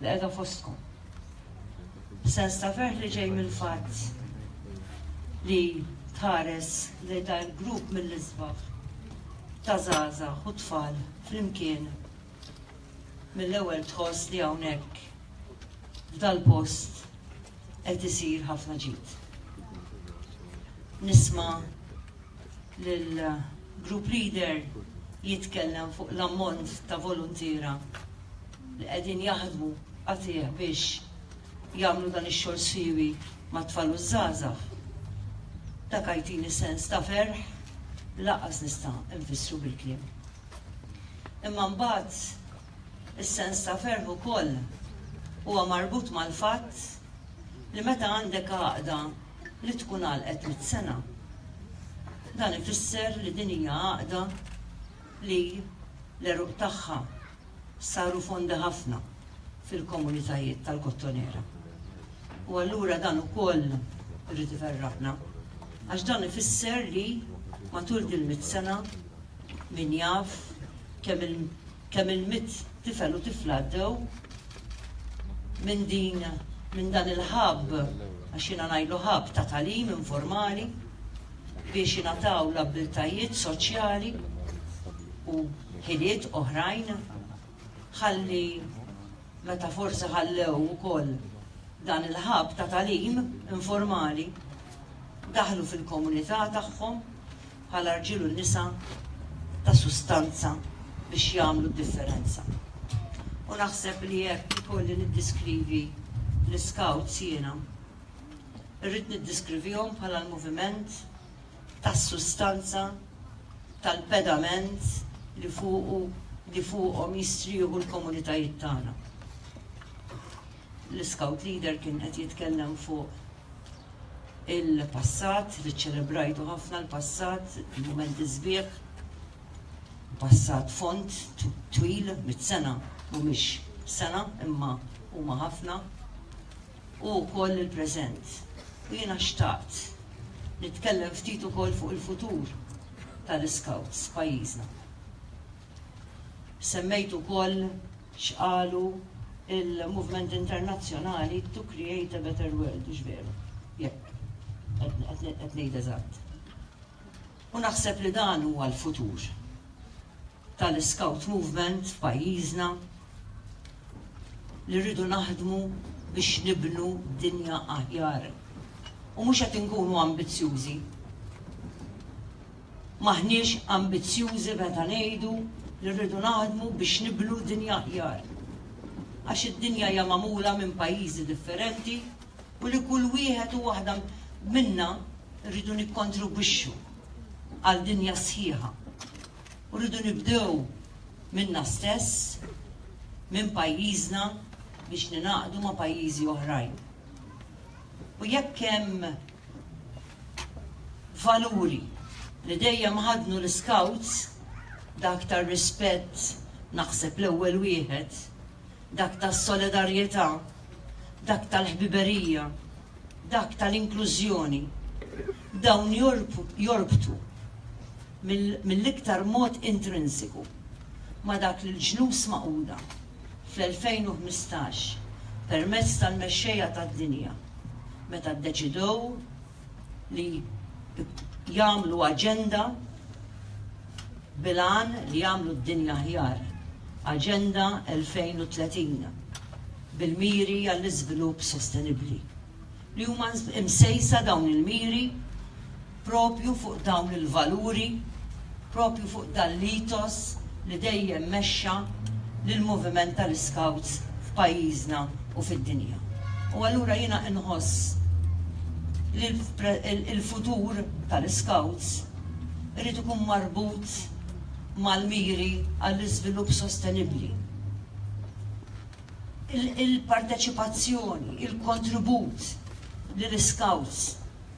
li qiegħda fostkom. B'sens ta' ferħ li ġej mill-fatt li tħares lejn dan il-grupp mill-isbaħ ta' żgħażagħ u tfal flimkien mill-ewwel tħoss li hawnhekk f'dal-post qed isir ħafna ġid. Nisma' lill-group leader jitkellem fuq l-ammont ta' voluntiera li qegħdin jaħdmu qatigħ biex jagħmlu dan ix-xogħol sħiwi mat-tfal u ż-żgħażagħ. Dak għajtini sens ta' ferħ li laqqas nista' nfissru bil-kliem. Imma mbagħad is-sens ta' ferħ ukoll huwa marbut mal-fatt li meta għandek għaqda li tkun għalqet mitt sena. Dan ifisser li din hija għaqda li l-għeruq tagħha saru fondi ħafna fil-komunitajiet tal-Kottonera. U allura dan ukoll irid iferraħna għax dan ifisser li matul din mitt sena min jaf kemm kemm il-mitt tifel u tifla għaddew minn din minn dan il-ħabb għax jiena ngħidlu ħabb ta' tagħlim informali biex jingħataw l-abbiltajiet soċjali u ħiliet oħrajn ħalli meta forsi ħallew ukoll dan il-ħabb ta' tagħlim informali daħlu fil-komunità tagħhom bħala rġiel u nisa ta' sustanza biex jagħmlu d-differenza. U naħseb li jekk ikolli niddiskrivi l-iskawts jiena, irrid niddiskrivihom bħala l-moviment tas-sustanza tal-pedament li fuqu li fuqhom jistrieħu l-komunitajiet tagħna. L-iskawt leader kien qed jitkellem fuq Il-passat li ċċelebrajtu ħafna, il-passat, il-mumenti sbieħ, passat fond twil mit sena mhumiex sena imma huma ħafna u wkoll il-preżent. U jiena xtaqt nitkellem ftit ukoll fuq il-futur tal-iskawts f'pajjiżna. Semmejt ukoll x'qalu l-movement internazzjonali to create a better world, hux veru? Jekk qed ngħid eżatt. U naħseb li dan huwa l-futur tal-Scout Movement f'pajjiżna li rridu naħdmu biex nibnu dinja aħjar. U mhux qed inkunu ambizzjużi. M'aħniex ambizzjużi meta ngħidu li rridu naħdmu biex nibnu dinja aħjar. Għax id-dinja hija magħmula minn pajjiżi differenti u li kull wieħed u waħda minna rridu nikkontribwixxu għal dinja sħiħa. U rridu nibdew minna stess, minn pajjiżna biex ninaqdu ma' pajjiżi oħrajn. U jekk hemm valuri li dejjem ħaddnu l-iskawts, dak tar-rispett, naħseb l-ewwel wieħed, dak tas-solidarjetà, dak tal-ħbiberija, dak tal-inklużjoni. Dawn jorbtu mill-iktar mod intrinsiku ma' dak li l-Ġnus Magħquda, fl-2015 permezz tal-mexxejja tad-dinja meta ddeċidew li jagħmlu aġenda bil-għan li jagħmlu d-dinja aħjar, Aġenda 2030, bil-miri għall-iżvilupp sostenibbli. li huma msejsa dawn il-miri proprju fuq dawn il-valuri, proprju fuq dan l-ethos li dejjem mexxa lill-moviment tal-iskawts f'pajjiżna u fid-dinja. U allura jiena inħoss li l-futur tal-iskawts irid ikun marbut mal-miri għall-iżvilupp sostenibbli. il-parteċipazzjoni, il-kontribut li l-iskawts,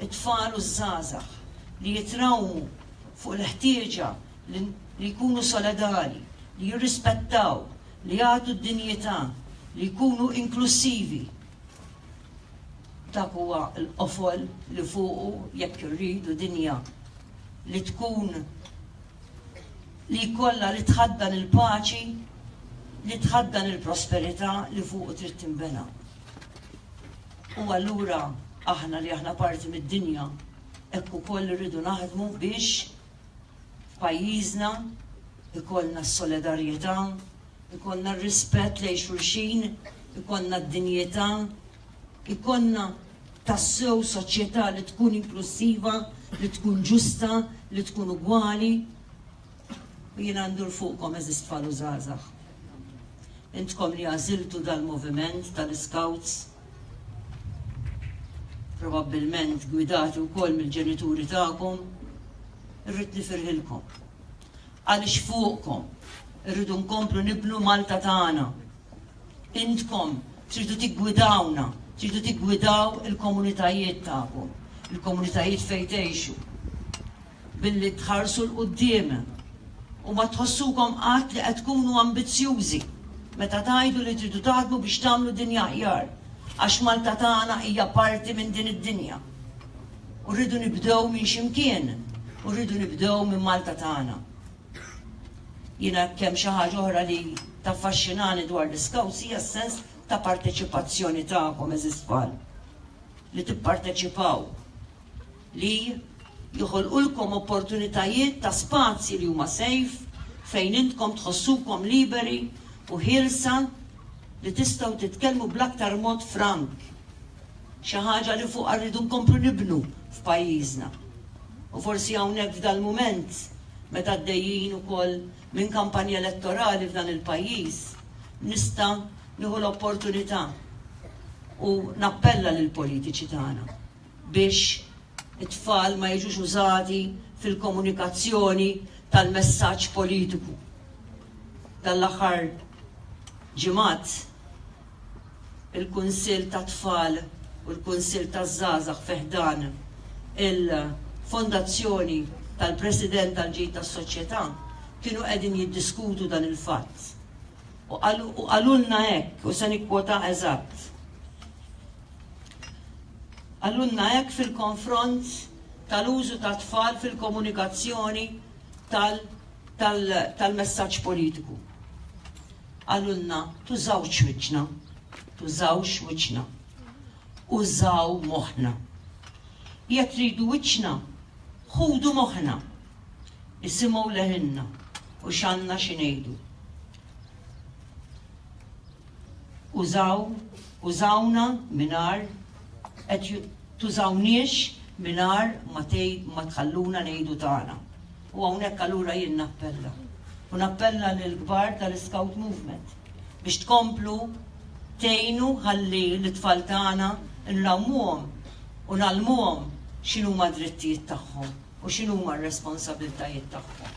it-tfal u ż-żgħażagħ li jitrawmu fuq il-ħtieġa li jkunu solidali, li jirrispettaw, li jagħtu d-dinjità, li jkunu inklussivi, dak huwa l-qofol li fuqu jekk irridu dinja li tkun li jkollha li tħaddan il-paċi, li tħaddan il-prosperità li fuqu trid tinbena. U allura aħna li aħna parti mid-dinja hekk ukoll irridu naħdmu biex f'pajjiżna ikollna s-solidarjetà, ikollna r-rispett lejn xulxin, ikollna d-dinjità, Ikollna tassew soċjetà li tkun inklussiva, li tkun ġusta, li tkun ugwali. U jiena ndur fuqkom, għeżież tfal u żgħażagħ. Intkom li għażiltu dal-moviment tal-iskawts, probabbilment gwidati wkoll mill-ġenituri tagħkom, irrid nifirħilkom. Għaliex fuqkom irridu nkomplu nibnu Malta tagħna. Intkom tridu tiggwidawna, tridu tiggwidaw il-komunitajiet tagħkom, il-komunitajiet fejn tgħixu, billi tħarsu 'l quddiem u ma tħossukom qatt li qed tkunu ambizzjużi meta tgħidu li tridu taħdmu biex tagħmlu dinja aħjar, għax Malta tagħna hija parti minn din id-dinja. U rridu nibdew minn xi mkien, u rridu nibdew minn Malta tagħna. Jien hekk hemm xi ħaġa oħra li taffaxxinani dwar l-iskawts hija s-sens ta' parteċipazzjoni tagħkom għeżież tfal. Li tipparteċipaw. Li joħolqulkom opportunitajiet ta' spazji li huma safe fejn intkom tħossukom liberi u ħielsa li tistgħu titkellmu bl-aktar mod frank. Xi ħaġa li fuqha rridu nkomplu nibnu f'pajjiżna. U forsi hawnhekk f'dal-mument, meta għaddejjin ukoll minn kampanja elettorali f'dan il-pajjiż, nista' nieħu l-opportunità u nappella lill-politiċi tagħna biex it-tfal ma jiġux użati fil-komunikazzjoni tal-messaġġ politiku. Dan l-aħħar ġimgħat, il-Kunsill tat-Tfal u l-Kunsill taż-Żgħażagħ fi ħdan il-Fondazzjoni tal-President tal-Ġid tas-Soċjetà kienu qegħdin jiddiskutu dan il-fatt u qalu u qalulna hekk, u se nikkwota eżatt, qalulna hekk fil-konfront tal-użu tat-tfal fil-komunikazzjoni tal-messaġġ politiku. qalulna tużawx wiċċna, tużawx wiċċna. Użaw moħħna. Jekk tridu wiċċna, ħudu moħħna. Isimgħu leħinna u x'għandna xi ngħidu. Użaw, użawna mingħajr qed tużawniex mingħajr ma tgħid ma tħalluna ngħidu tagħna. U hawnhekk allura jien nappella, u nappella lill-kbar tal-Iskout Movement biex tkomplu tgħinu ħalli lit-tfal tagħna nrawmuhom u ngħallmuhom x'inhuma d-drittijiet tagħhom u x'inhuma r-responsabbiltajiet tagħhom.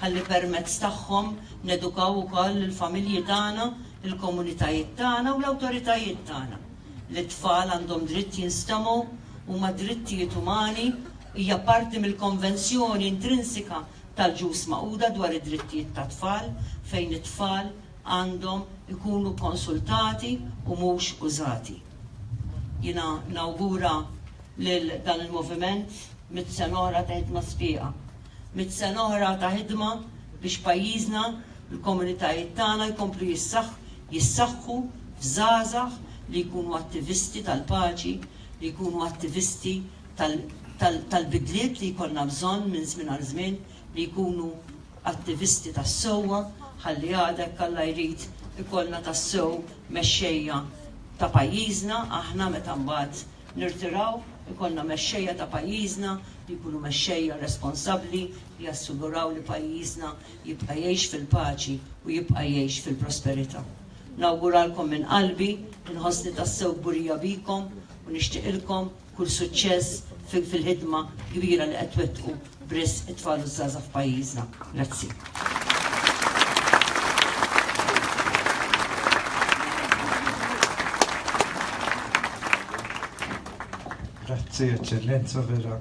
Ħalli permezz tagħhom nedukaw ukoll il-familji tagħna, il-komunitajiet tagħna u l-awtoritajiet tagħna li t-tfal għandhom dritt jinstemgħu, huma drittijiet umani, hija parti mill-Konvenzjoni intrinsika tal-Ġus Magħquda dwar id-Drittijiet tat-Tfal, fejn it-tfal għandhom ikunu kkonsultati u mhux użati. Jiena nawgura lil dan il-moviment mitt sena oħra ta' ħidma sfiqa, mitt sena oħra ta' ħidma biex pajjiżna, l-komunitajiet tagħna jkomplu jissaħħu f'żgħażagħ li jkunu attivisti tal-paċi, li jkunu attivisti tal-bidliet li jkollna bżonn minn żmien għal żmien, li jkunu attivisti tas-sewwa ħalli għada, jekk Alla jrid, ikollna tassew mexxejja ta' pajjiżna, aħna meta mbagħad nirtiraw, ikollna mexxejja ta' pajjiżna li jkunu mexxejja responsabbli li jassiguraw li pajjiżna jibqa' jgħix fil-paċi u jibqa' jgħix fil-prosperità. Nawguralkom minn qalbi, inħossni tassew kburija bikom u nixtieqilkom kull suċċess fil-ħidma kbira li qed twettqu b'risq it-tfal u ż-żgħażagħ f'pajjiżna. Grazzi. Grazie eccellenza vera